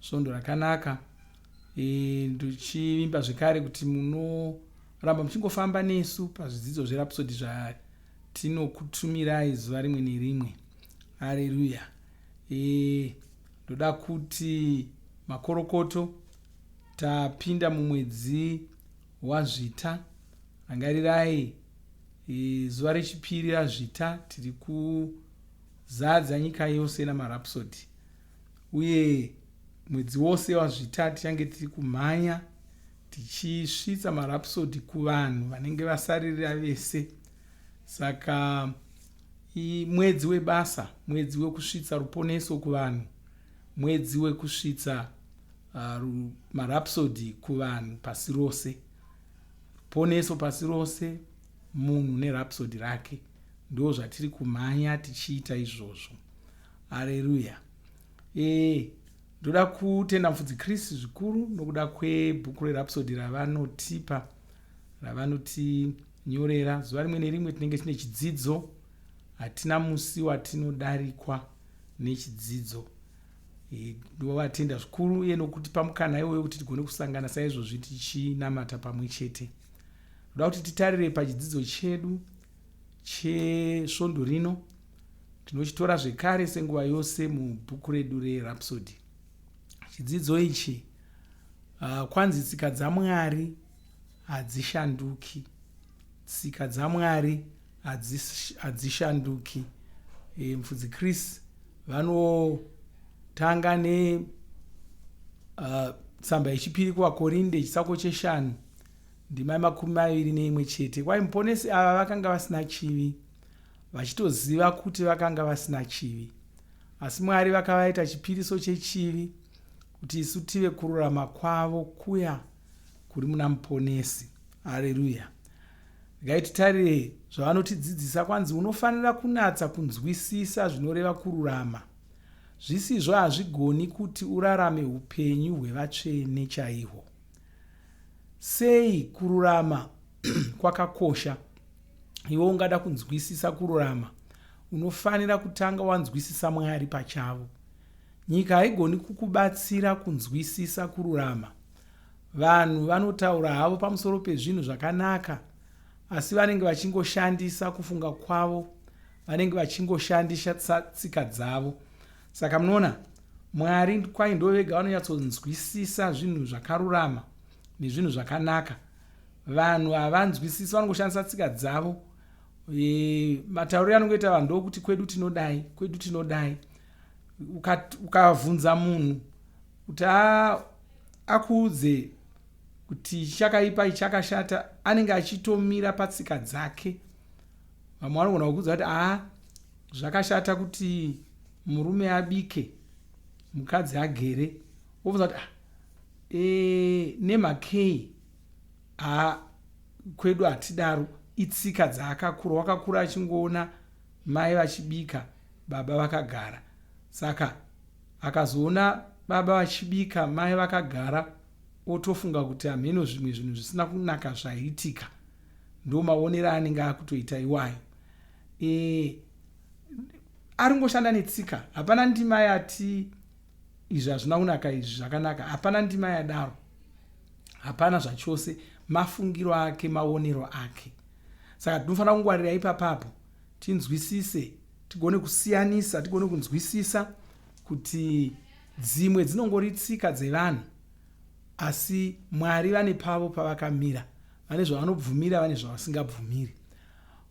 Svondo rakanaka e, ndichivimba zvekare kuti munoramba muchingofamba nesu pazvidzidzo zverapsodi zvatinokutumirai zuva rimwe nerimwe areruya e, ndoda kuti makorokoto tapinda mumwedzi wazvita rangarirai e, zuva rechipiri razvita tiri kuzadza nyika yose namarapsodi uye mwedzi wose wazvita tichange tiri kumhanya tichisvitsa marapsodi kuvanhu vanenge vasaririra vese saka mwedzi webasa mwedzi wekusvitsa ruponeso kuvanhu mwedzi wekusvitsa uh, marapsodi kuvanhu pasi rose ruponeso pasi rose munhu nerapsodi rake ndo zvatiri kumhanya tichiita izvozvo hareruya ee ndoda kutenda mufudzi chris zvikuru nokuda kwebhuku rerapsodi ravanotipa ravanotinyorera zuva rimwe nerimwe tinenge tine chidzidzo hatina musi watinodarikwa nechidzidzo e, ndovatenda zvikuru uye nokuti pamukana iwoyo kuti tigone kusangana saizvozvi tichinamata pamwe chete ndoda kuti titarire pachidzidzo chedu chesvondo rino Tinochitora zvekare senguva yose mubhuku redu reRhapsody. Chidzidzo ichi uh, kwanzi tsika dzaMwari hadzishanduki. Tsika dzaMwari hadzishanduki. E, Mfudzi Chris vanotanga ne uh, tsamba yechipiri kuvakorinde chisako cheshanu ndimai makumi maviri neimwe chete kwai muponesi ava vakanga vasina chivi vachitoziva kuti vakanga vasina chivi asi mwari vakavaita chipiriso chechivi kuti isu tive kururama kwavo kuya kuri muna muponesi areruya regai titarire zvavanotidzidzisa kwanzi unofanira kunatsa kunzwisisa zvinoreva kururama zvisizvo hazvigoni kuti urarame upenyu hwevatsvene chaihwo Sei kururama kwakakosha? Iwe ungada kunzwisisa kururama, unofanira kutanga wanzwisisa Mwari pachavo. Nyika haigoni kukubatsira kunzwisisa kururama. Vanhu vanotaura havo pamusoro pezvinhu zvakanaka, asi vanenge vachingoshandisa kufunga kwavo, vanenge vachingoshandisa tsika dzavo. Saka munoona, Mwari kwaye ndivo vega vanonyatsonzwisisa zvinhu zvakarurama nezvinhu zvakanaka. Vanhu havanzwisisi, vanongoshandisa tsika dzavo. E, matauriro anongoita vanhu ndokuti kwedu tinodai, kwedu tinodai. Ukavhunza uka munhu kuti akuudze kuti chakaipa ichakashata anenge achitomira patsika dzake vamwe vanogona kukudza kuti aa zvakashata kuti murume abike mukadzi agere wobvunza kuti ah, e, nemakei aa kwedu hatidaro itsika dzaakakura wakakura achingoona mai vachibika baba vakagara saka akazoona baba vachibika mai vakagara otofunga kuti hameno zvimwe zvinhu zvisina kunaka zvaiitika ndo maonero anenge akutoita iwayo e, ari ngoshanda netsika hapana ndima yati izvi hazvina kunaka izvi zvakanaka hapana ndima yadaro hapana zvachose mafungiro ake maonero ake saka tinofanira kungwarira ipapapo tinzwisise tigone kusiyanisa tigone kunzwisisa kuti dzimwe dzinongori tsika dzevanhu asi mwari vane pavo pavakamira vane zvavanobvumira vane zvavasingabvumiri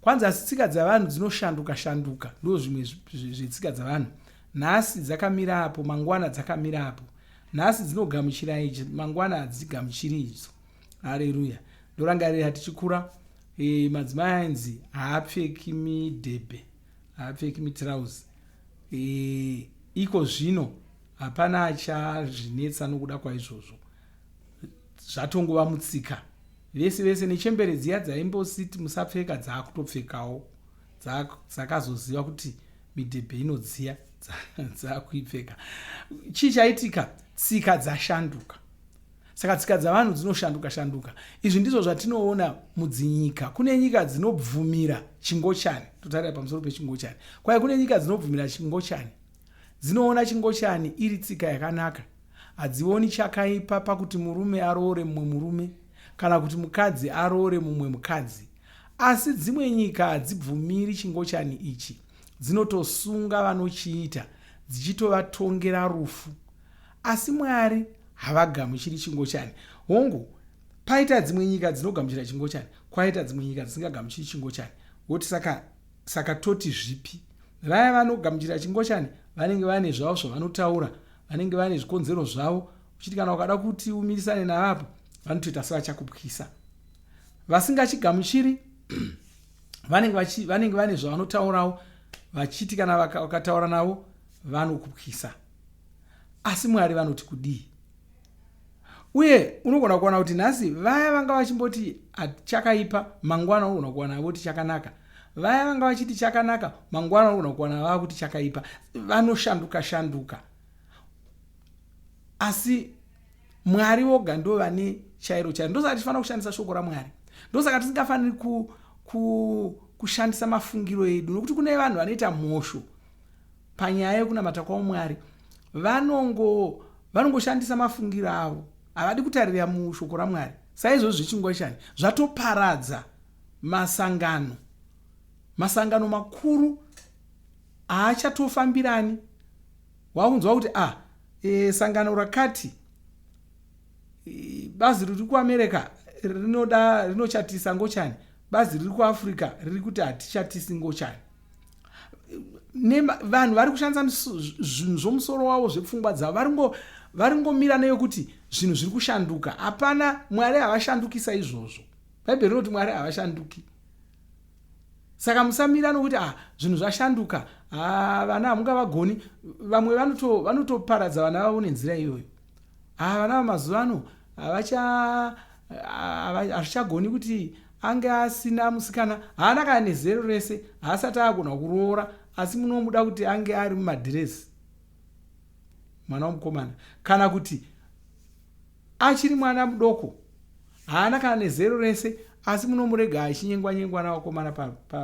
kwanzi asi tsika dzavanhu dzinoshanduka shanduka ndo zvimwe zvetsika dzavanhu nhasi dzakamira apo mangwana dzakamira apo nhasi dzinogamuchira ichi mangwana hadzigamuchiri idzo hareruya ndorangarira tichikura e, madzimai ainzi haapfeki midhebhe haapfeki mitrausi e, eh, iko zvino hapana achazvinetsa nokuda kwaizvozvo zvatongova mutsika vese vese nechembere dziya dzaimbositi musapfeka dzaakutopfekawo dzakazoziva kuti midhebhe inodziya dzaakuipfeka chii chaitika tsika dzashanduka saka tsika dzavanhu dzinoshanduka shanduka izvi ndizvo zvatinoona mudzinyika kune nyika dzinobvumira chingochani totarira pamusoro pechingochani kwaye kune nyika dzinobvumira chingochani dzinoona chingochani iri tsika yakanaka Hadzioni chakaipa pakuti murume aroore mumwe murume kana kuti mukadzi aroore mumwe mukadzi. Asi dzimwe nyika hadzibvumiri chingochani ichi, dzinotosunga vanochiita dzichitovatongera rufu. Asi Mwari havagamuchiri chingochani. Hongu, paita dzimwe nyika dzinogamuchira chingochani, kwaita dzimwe nyika dzisingagamuchiri chingochani. Woti saka, saka toti zvipi? Vaya vanogamuchira chingochani vanenge vane zvavo zvavanotaura vanenge vane zvikonzero zvavo uchiti kana ukada kuti umirisane navo apa vanotoita sevachakupwisa vasingachigamuchiri vanenge vane zvavanotaurawo vachiti kana vakataura navo vanokupwisa asi mwari vanoti kudii Uye unogona kuwana kuti nhasi vaya vanga vachimboti chakaipa mangwana unogona kuwana voti chakanaka. Vaya vanga vachiti chakanaka mangwana unogona kuwana vava kuti chakaipa. Vanoshanduka shanduka. Asi Mwari voga ndo vane chairo chairo. Ndosaka tichifanira kushandisa shoko raMwari. Ndosaka tisingafaniri ku, ku, kushandisa mafungiro edu nokuti kune vanhu vanoita mhosho panyaya yekunamata kwaumwari vanongo vanongoshandisa mafungiro avo havadi kutarira mushoko ramwari saizvozvi zvechingwashani zvatoparadza masangano masangano makuru haachatofambirani wakunzwa kuti ah e, sangano rakati e, bazi riri kuamerica rinoda rinochatisa ngochani bazi riri kuafrica riri kuti hatichatisi ngochani vanhu vari kushandisa zvinhu zvomusoro wavo zvepfungwa dzavo vari ngomira neyokuti zvinhu zviri kushanduka hapana mwari havashandukisa izvozvo bhaibheri rinoti mwari havashanduki saka musamira nokuti ah zvinhu zvashanduka ah, vana hamungavagoni vamwe vanotoparadza vana vavo nenzira iyoyo Ah vana vamazuva ano havacha hazvichagoni kuti ange asina musikana haana kana nezero rese haasati agona kuroora asi munomuda kuti ange ari mumadhiresi mwana womukomana kana kuti achiri mwana mudoko haana kana nezero rese asi munomurega achinyengwanyengwa navakomana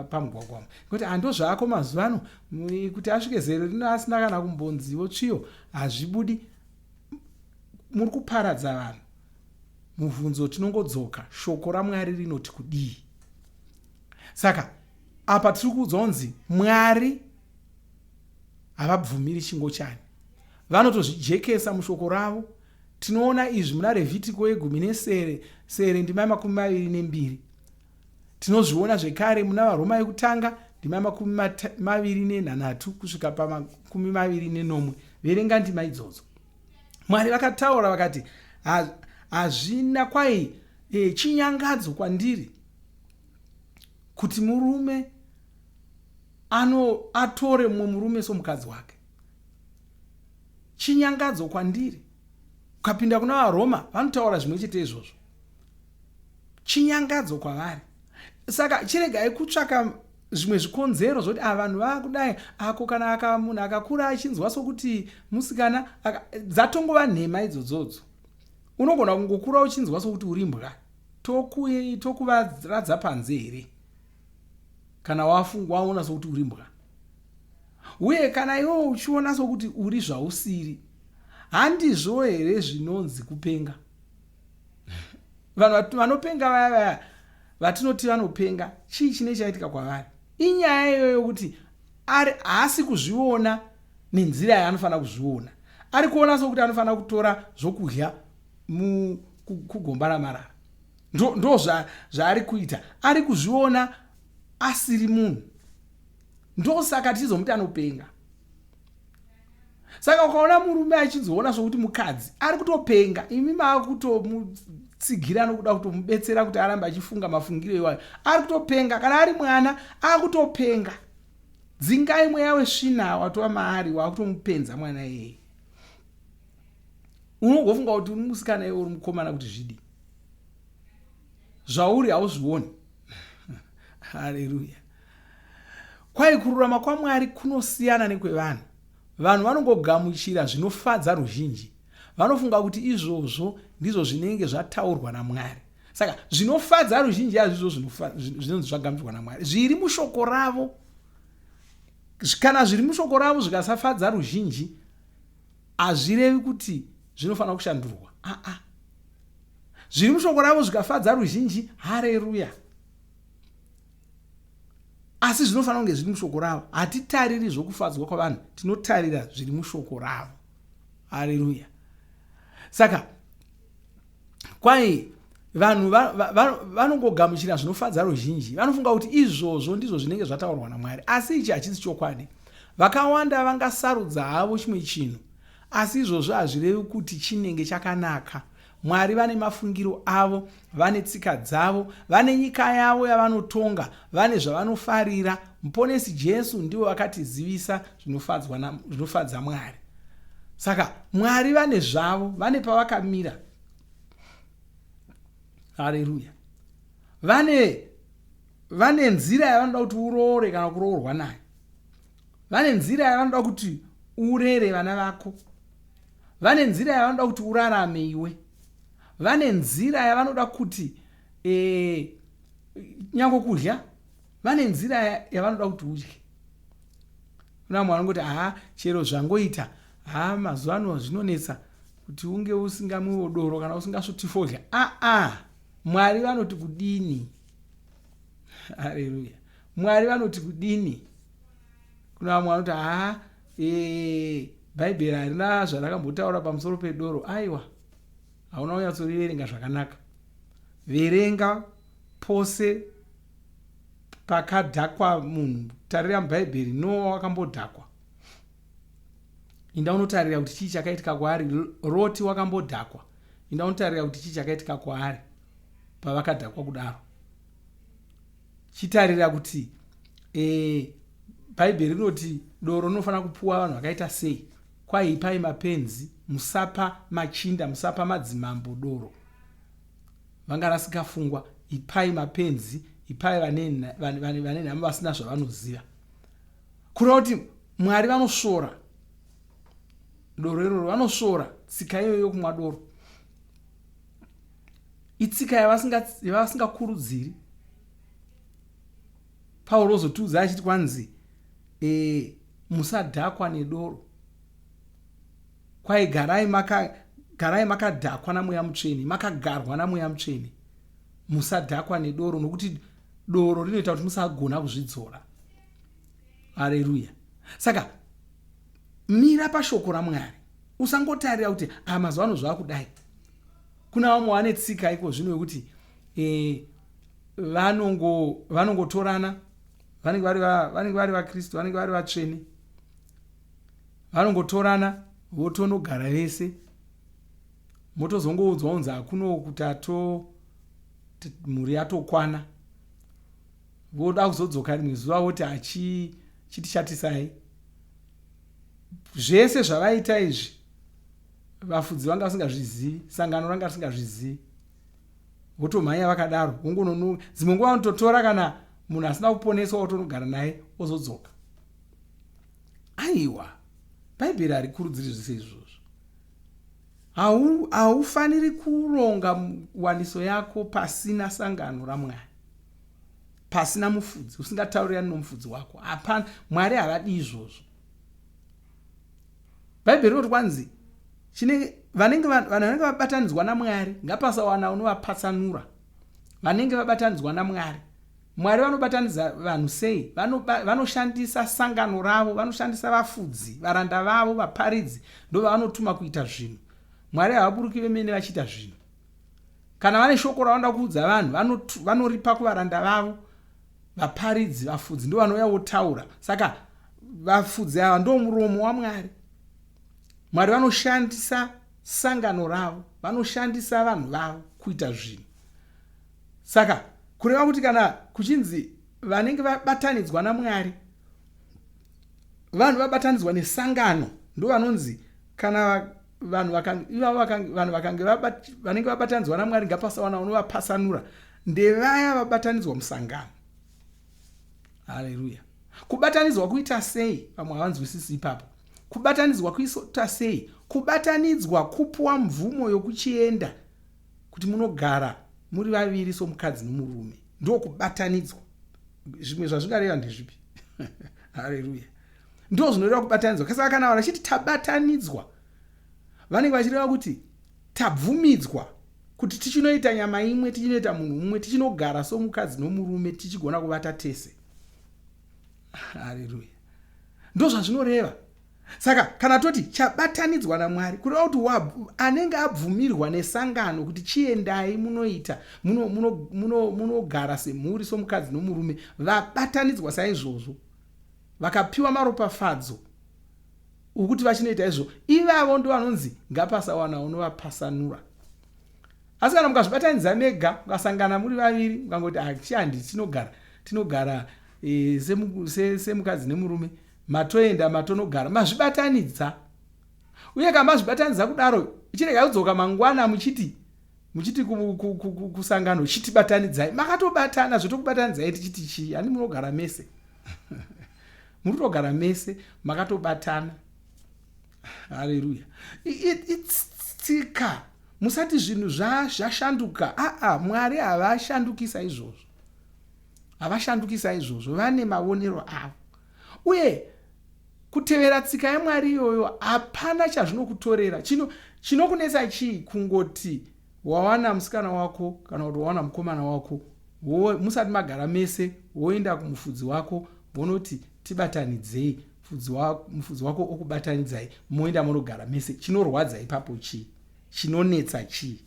pamugwagwamo nekuti hando zvaako mazuva ano kuti asvike zero rino asina kana kumbonzivo tsviyo hazvibudi muri kuparadza vanhu mubvunzo tinongodzoka shoko ramwari rinoti kudii saka apa tiri kuudzwa kunzi mwari havabvumiri chingo chani vanotozvijekesa mushoko ravo Tinoona izvi muna Revhitiko yegumi nesere sere ndima yemakumi maviri nembiri. Tinozviona zvekare muna Varoma yekutanga ndima yemakumi maviri nenhanhatu kusvika pamakumi maviri nenomwe. Verenga ndima idzodzo. Mwari vakataura vakati, hazvina kwai e, chinyangadzo kwandiri kuti murume ano atore mumwe murume somukadzi wake chinyangadzo kwandiri. Ukapinda kuna vaRoma vanotaura zvimwe chete izvozvo, chinyangadzo kwavari. Saka chiregai kutsvaka zvimwe zvikonzero zvokuti a ah, vanhu vakudai ako kana aka munhu akakura achinzwa sokuti musikana dzatongova nhema idzodzodzo unogona kungokura uchinzwa sokuti uri mbwa tokuvaradza panze here kana waona sokuti uri mbwa Uye kana iwe uchiona sokuti uri zvausiri, handizvo here zvinonzi kupenga? Vanhu vanopenga vaya vaya vatinoti vanopenga, chii chine chaitika kwavari? Inyaya iyoyo yokuti ari haasi kuzviona nenzira yaanofanira kuzviona, ari kuona sokuti anofanira kutora zvokudya kugomba ramarara. Ndo zvaari kuita, ari kuzviona asiri munhu. ndosaka tichizomuti anopenga saka ukaona murume achizoona sokuti mukadzi ari kutopenga imi maakutomutsigira nokuda kutomubetsera kuti arambe achifunga mafungiro iwayo ari kutopenga kana ari mwana akutopenga dzingai mweya wesvina watova maari waakutomupenza mwana iyeye unongofunga kuti uri musikana iwe uri mukomana kuti zvidii zvauri hauzvioni haleluya Kwai kururama kwaMwari kunosiyana nekwevanhu. Vanhu vanongogamuchira zvinofadza ruzhinji. Vanofunga kuti izvozvo ndizvo zvinenge zvataurwa naMwari. Saka zvinofadza ruzhinji hazvizvo zvinonzi zvagamuchirwa naMwari. Zviri mushoko ravo. Kana zviri mushoko ravo zvikasafadza ruzhinji, hazvirevi kuti zvinofanira kushandurwa. Aa. Ah, ah. Zviri mushoko ravo zvikafadza ruzhinji, hareruya. asi zvinofanira kunge zviri mushoko ravo hatitariri zvokufadzwa kwavanhu tinotarira zviri mushoko ravo hareruya saka kwai vanhu vanongogamuchira zvinofadza ruzhinji vanofunga kuti izvozvo ndizvo zvinenge zvataurwa namwari asi ichi hachisi chokwadi vakawanda vangasarudza havo chimwe chinhu asi izvozvo hazvirevi kuti chinenge chakanaka Mwari vane mafungiro avo, vane tsika dzavo, vane nyika yavo yavanotonga, vane zvavanofarira. Muponesi Jesu ndivo vakatizivisa zvinofadza Mwari. Saka Mwari vane zvavo, vane pavakamira. Haleluya. Vane vane nzira yavanoda kuti uroore kana kuroorwa nayo. Vane nzira yavanoda kuti urere vana vako. vane nzira yavanoda kuti urarame iwe vane nzira yavanoda kuti e, nyango kudya vane nzira yavanoda kuti udye kuna vamwe vanongoti haa chero zvangoita haa mazuva ano zvinonetsa kuti unge usingamwiwo doro kana usingasvoti fodya aa ah, ah, mwari vanoti kudini hareruya mwari vanoti kudini kuna vamwe vanoti haa ah, Eee, bhaibheri harina zvarakambotaura pamusoro pedoro aiwa hauna kunyatsoriverenga zvakanaka verenga pose pakadhakwa munhu tarira mubhaibheri noa wakambodhakwa inda unotarira kuti chii chakaitika kwaari roti wakambodhakwa inda unotarira kuti chii chakaitika kwaari pavakadhakwa kudaro chitarira kuti e, bhaibheri rinoti doro rinofanira kupuwa vanhu vakaita sei kwaipai mapenzi musapa machinda musapa madzimambo doro vanganasikafungwa ipai mapenzi ipai vane nhamo vasina zvavanoziva kureva kuti mwari vanosvora doro iroro vanosvora tsika iyoyo yokumwa doro itsika yavasingakurudziri pauro ozotiudza achiti kwanzi e, musadhakwa nedoro kwai garai maka garai makadhakwa namweya mutsvene makagarwa namweya mutsvene musadhakwa nedoro nokuti doro rinoita kuti musagona kuzvidzora areruya saka Mira pashoko raMwari. Usangotarira kuti ah, mazuva ano zvakudai. Kuna vamwe vane tsika iko zvino yokuti eh, vanongo vanongotorana vanenge vari vanenge vari vaKristu vanenge vari vatsvene vanongotorana votonogara vese motozongoudzwa unzi hakuno kuti ato mhuri yatokwana voda kuzodzoka rimwe zuva voti achitichatisai zvese zvavaita izvi vafudzi vanga vasingazvizivi sangano ranga risingazvizivi votomhanya vakadaro vongononoka dzimwe nguva vanototora kana munhu asina kuponeswa wotonogara naye ozodzoka aiwa bhaibheri harikurudziri zvese izvozvo haufaniri kuronga waniso yako pasina sangano ramwari pasina mufudzi usingataurirani nomufudzi wako hapana mwari havadi izvozvo bhaibheri rinoti kwanzi chine vanenge vanhu vanenge vabatanidzwa namwari ngapasawana unovapatsanura vanenge vabatanidzwa namwari mwari vanobatanidza vanhu sei vanoshandisa sangano ravo vanoshandisa vafudzi varanda vavo vaparidzi ndovanotuma kuita zvinhu mwari havaburuki vemene vachiita zvinhu Kana vane shoko ravanoda kuudza vanhu vanotu- vanoripa kuvaranda vavo vaparidzi vafudzi ndo vanouya votaura saka vafudzi ava ndo muromo wamwari mwari vanoshandisa sangano ravo vanoshandisa vanhu vavo kuita zvinhu saka kureva kuti kana kuchinzi vanenge vabatanidzwa namwari vanhu vabatanidzwa nesangano ndo vanonzi kana va- vanhu vanhu vakange vanenge vabatanidzwa namwari ngapasawana unovapasanura ndevaya vabatanidzwa musangano haleluya kubatanidzwa kuita sei vamwe havanzwisisi ipapo kubatanidzwa kuita sei kubatanidzwa kupuwa mvumo yokuchienda kuti munogara muri vaviri somukadzi nomurume ndokubatanidzwa zvimwe zvazvingareva ndezvipi haleluya ndo zvinoreva kubatanidzwa kasaka kana vanhu vachiti tabatanidzwa vanenge vachireva kuti tabvumidzwa kuti tichinoita nyama imwe tichinoita munhu umwe tichinogara somukadzi nomurume tichigona kuvata tese hareruya ndo zvazvinoreva saka kana toti chabatanidzwa namwari kureva kuti anenge abvumirwa nesangano kuti chiendai munoita munogara semhuri somukadzi nomurume vabatanidzwa saizvozvo vakapiwa maropafadzo okuti vachinoita izvo ivavo ndo vanonzi ngapasawana unovapasanura asi kana mukazvibatanidza mega mukasangana muri vaviri mukangoti hachi ah, handi tinogara tinogara e, semukadzi nemurume matoenda matonogara mazvibatanidza uye kana mazvibatanidza kudaro chirega kudzoka mangwana muchiti muchiti kusangano chiti batanidzai makatobatana zvotokubatanidzai tichiti chii hani munogara mese muri kutogara mese makatobatana haleluya itsika musati zvinhu zvashanduka aa mwari havashandukisa izvozvo havashandukisa izvozvo vane mavonero avo Uye kutevera tsika yaMwari iyoyo hapana chazvinokutorera. Chino chinokunetsa chii kungoti wawana musikana wako kana kuti wawana mukomana wako wo, musati magara mese woenda kumufudzi wako wonoti tibatanidzei mufudzi wako, mufudzi wako okubatanidzai moenda monogara mese chinorwadza ipapo chii chinonetsa chii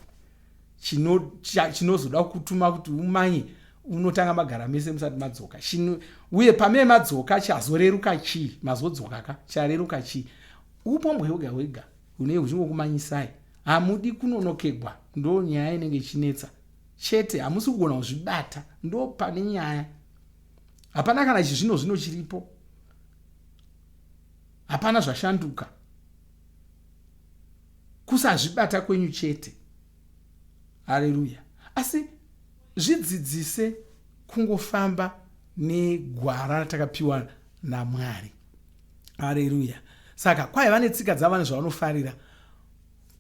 chinozoda kutuma kuti umanye unotanga magara mese musati madzoka Shino, uye pamee madzoka chazoreruka chii mazodzoka ka chareruka chii upombwe hwega hwega hunei huchingokumanyisai hamudi kunonokegwa ndo nyaya inenge ichinetsa chete hamusi kugona kuzvibata ndo pane nyaya hapana kana chizvino zvino chiripo hapana zvashanduka kusazvibata kwenyu chete hareruya asi zvidzidzise kungofamba negwara ratakapiwa namwari hareruya saka kwaiva netsika dzavanhu zvavanofarira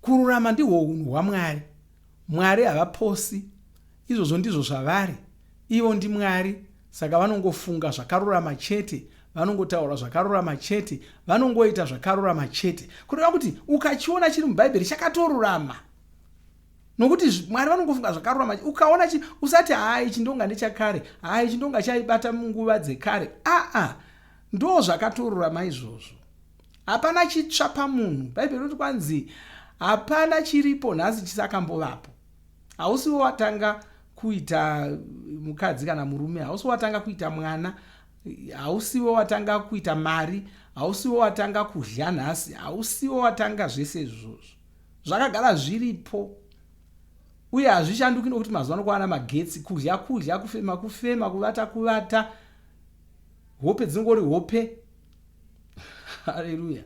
kururama ndihwo unhu hwamwari Mwari havaposi, izvozvo ndizvo zvavari. Ivo ndiMwari, saka vanongofunga zvakarurama chete, vanongotaura zvakarurama chete, vanongoita zvakarurama chete. Kureva kuti ukachiona chiri muBhaibheri chakatorurama. Nokuti Mwari vanongofunga zvakarurama. Ukaona chi usati haa ichi ndonga ndechakare, haa ichi ndonga chaibata munguva dzekare. Aa, ndoo zvakatorurama izvozvo. Hapana chitsva pamunhu. Bhaibheri rinoti kwanzi hapana chiripo nhasi chisakambovapo. Hausiwo watanga kuita mukadzi kana murume, hausiwo watanga kuita mwana, hausiwo watanga kuita mari, hausiwo watanga kudya nhasi, hausiwo watanga zvese izvozvo. Zvakagara zviripo uye hazvishanduki nokuti mazuva anokuwana magetsi kudya kudya kufema kufema kuvata kuvata hope dzinongori hope haleluya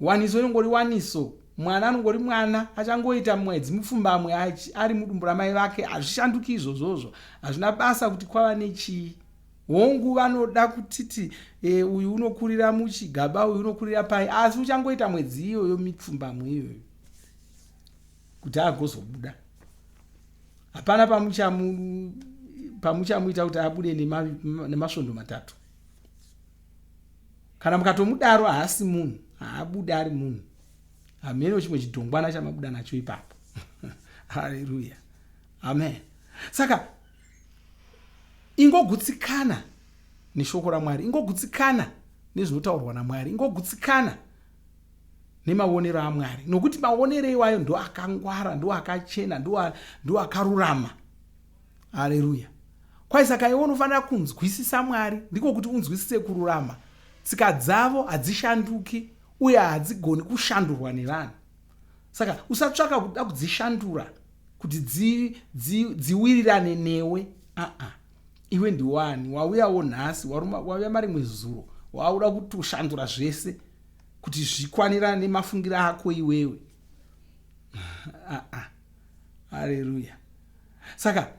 waniso inongori waniso mwana anongori mwana achangoita mwedzi mupfumbamwe ari mudumbu ramai vake hazvishanduki izvozvozvo hazvina basa kuti kwava nechii hongu vanoda kutiti e, uyu unokurira muchigaba uyu unokurira pai asi uchangoita mwedzi iyoyo mipfumbamwe iyoyo kuti agozobuda hapana pamuchamuita kuti abude nemasvondo matatu kana mukatomudaro haasi munhu haabude ari munhu hameno chimwe chidhongwana chamabuda nacho ipapo haleluya amen saka ingogutsikana neshoko ramwari ingogutsikana nezvinotaurwa namwari ingogutsikana nemaonero amwari nokuti maonero iwayo ndo akangwara ndo akachena ndo akarurama aleluya kwai saka iwe unofanira kunzwisisa mwari ndiko kuti unzwisise kururama tsika dzavo hadzishanduki uye hadzigoni kushandurwa nevanhu saka usatsvaka kuda kudzishandura kuti dziwirirane newe aa iwe ndiwani wauyawo nhasi waruma wauya marimwe zuro wauda kutoshandura zvese kuti zvikwanirana nemafungira ako iwewe ah, ah. haleluya saka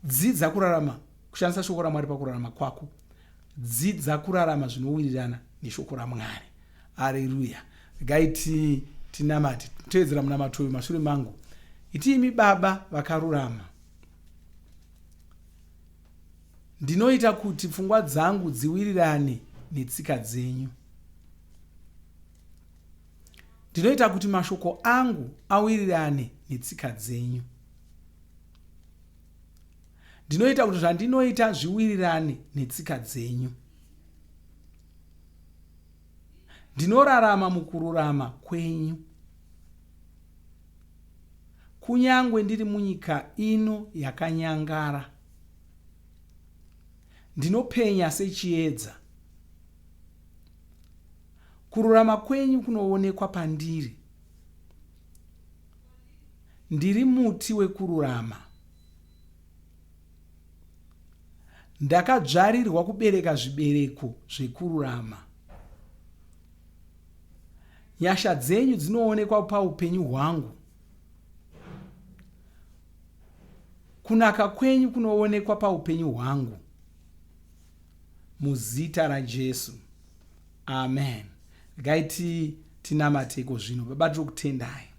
dzidza kurarama kushandisa shoko ramwari pakurarama kwako dzidza kurarama zvinowirirana neshoko ramwari haleluya regai ti tinamati toedzera munamato uyu mashure mangu itiimi baba vakarurama Ndinoita kuti pfungwa dzangu dziwirirane netsika dzenyu. Ndinoita kuti mashoko angu awirirane netsika dzenyu. Ndinoita kuti zvandinoita zviwirirane netsika dzenyu. Ndinorarama mukururama kwenyu. Kunyangwe ndiri munyika ino yakanyangara, ndinopenya sechiedza. Kururama kwenyu kunoonekwa pandiri. Ndiri muti wekururama. Ndakadzvarirwa kubereka zvibereko zvekururama. Nyasha dzenyu dzinoonekwa paupenyu hwangu. Kunaka kwenyu kunoonekwa paupenyu hwangu. Muzita raJesu. Amen. Regai tinamate iko zvino. Baba tiri kutendai.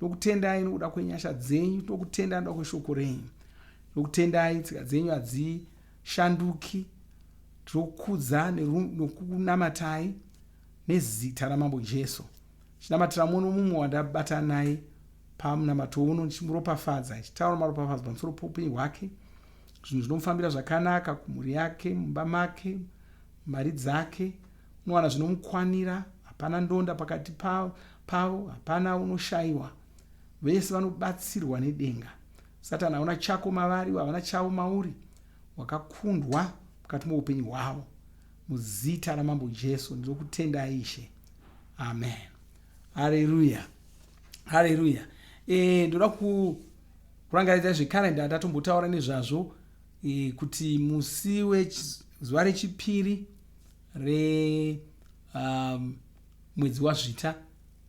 tokutendai nokuda kwenyasha dzenyu tokutendai nokuda kweshoko renyu tokutendai tsika dzenyu hadzishanduki tokudza nokunamatai nezita ramambo jesu chinamatira mumwe nomumwe wandabatana naye pamunamato uno ndichimuropafadza ichitaura maropafadzo pamusoro poupenyu hwake zvinhu zvinomufambira zvakanaka kumhuri yake mumba make mari dzake Unowana zvinomukwanira, hapana ndonda pakati pavo, pavo hapana unoshayiwa. Vese vanobatsirwa nedenga. Satani hauna chako mavari, ivo havana chavo mauri. Wakakundwa mukati moupenyu hwavo. Muzita raMambo Jesu ndinokutendai Ishe. Amen. Haleluya. Haleluya. Eh, ndoda ku kurangaridza zvekarenda ndatombotaura nezvazvo e, kuti musi wezuva rechipiri remwedzi um, wazvita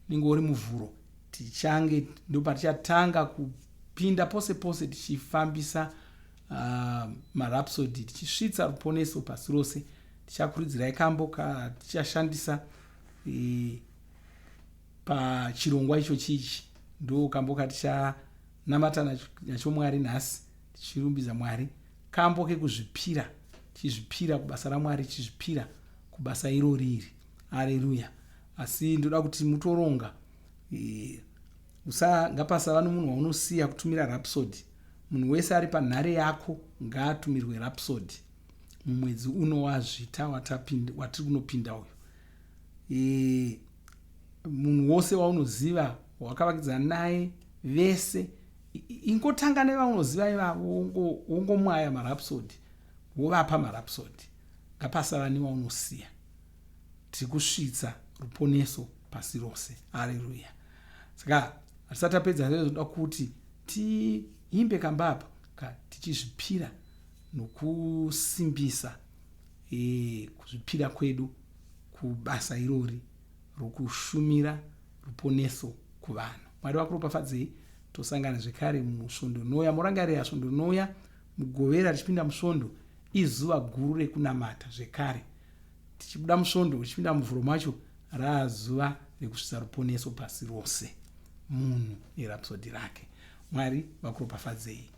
unenge uri muvhuro tichange ndopatichatanga kupinda pose pose tichifambisa uh, marapsody tichisvitsa ruponeso pasi rose tichakuridzirai kambo katichashandisa e, pachirongwa icho chichi ndo kambo katichanamata nacho mwari nhasi tichirumbidza Mwari, kambo kekuzvipira, tichizvipira kubasa raMwari, tichizvipira kubasa irori iri. Aleluya! Asi ndoda kuti mutoronga, e, usa ngapasava nomunhu waunosiya kutumira rapsodi. Munhu wese ari panhare yako ngaatumirwe rapsodi mumwedzi uno wazvita watiri kunopinda uyu. E, munhu wose waunoziva wakavakidzana naye vese ingotanga nevaunoziva ivavo wongomwaya marapsodi wovapa marapsodi ngapasava newaunosiya tiri kusvitsa ruponeso pasi rose areruya saka hatisati apedza zvezvoda kuti tiimbe kamba apa ka tichizvipira nokusimbisa e, kuzvipira kwedu kubasa irori rwekushumira ruponeso kuvanhu. Mwari vakuropafadzei tosangana zvekare musvondo rinouya. Morangarira svondo rinouya mugovera richipinda musvondo izuva guru rekunamata zvekare tichibuda musvondo richipinda muvhuro macho raazuva rekusvitsa ruponeso pasi rose munhu nerapsodi rake mwari vakuropafadzei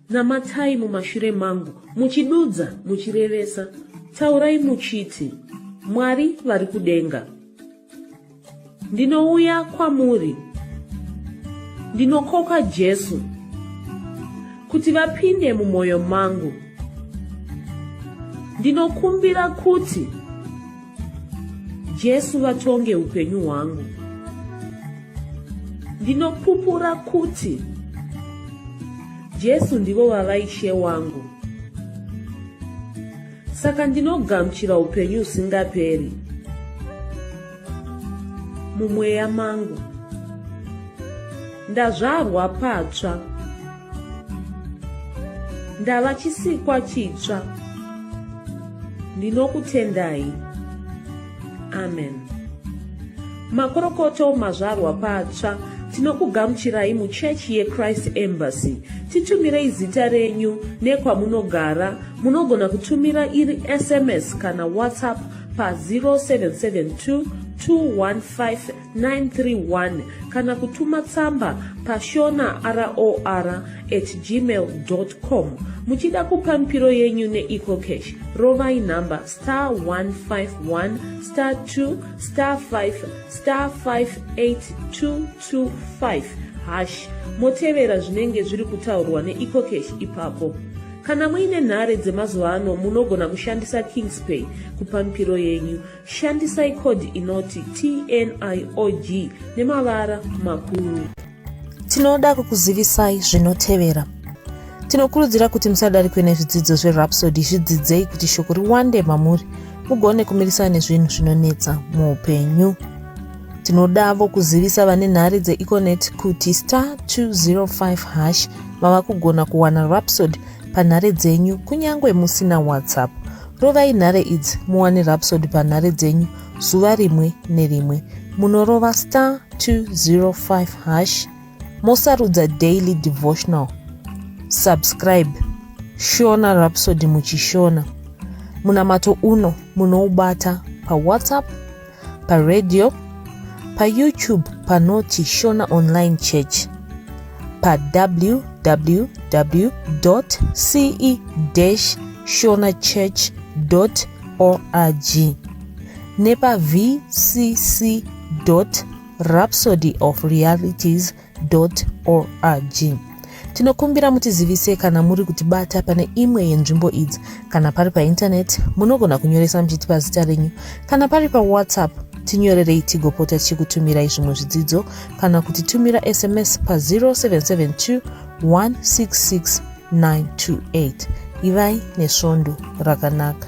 Namatai mumashure mangu, muchidudza, muchirevesa, taurai muchiti, Mwari vari kudenga, ndinouya kwamuri, ndinokoka Jesu kuti vapinde mumwoyo mangu, ndinokumbira kuti Jesu vatonge upenyu hwangu. Ndinopupura kuti Jesu ndivo vava ishe wangu. Saka ndinogamuchira upenyu usingaperi mumweya mangu. Ndazvarwa patsva. ndava chisikwa chitsva ndinokutendai amen makorokoto mazvarwa patsva tinokugamuchirai muchechi yechrist embassy titumirei zita renyu nekwamunogara munogona kutumira iri sms kana whatsapp pa 0772 215 931 kana kutuma tsamba pashona ror at gmail com muchida kupa mipiro yenyu neecocash rovai nhamba star 151 star 2 star 5 star 58225 hash motevera zvinenge zviri kutaurwa neecocash ipapo kana muine nhare dzemazuva ano munogona kushandisa kingspay kupa mipiro yenyu Shandisai code inoti TNIOG nemavara makuru. Tinoda kukuzivisai zvinotevera. Tinokurudzira kuti musadarikwe nezvidzidzo zveRhapsody zvidzidzei kuti shoko riwande mamuri mugone kumirisana nezvinhu zvinonetsa muupenyu. Tinodavo kuzivisa vane nhare dzeEconet kuti star 205 hash mava kugona kuwana Rhapsody panhare dzenyu kunyange musina WhatsApp. Rovai nhare idzi muwane Rhapsody panhare dzenyu zuva rimwe nerimwe. Munorova star 205 hash mosarudza daily devotional. Subscribe Shona Rhapsody muchishona. Munamato uno munoubata paWhatsApp paradio, paYoutube panoti Shona Online Church, pawww.ce-shonachurch.org nepa vcc.rhapsodyofrealities.com org tinokumbira mutizivise kana muri kutibata pane imwe yenzvimbo idzi kana pari paintaneti munogona kunyoresa muchitipa zita renyu kana pari pawhatsapp tinyorerei tigopota tichikutumirai zvimwe zvidzidzo kana kuti tumira sms pa 0772 166 928 ivai nesvondo rakanaka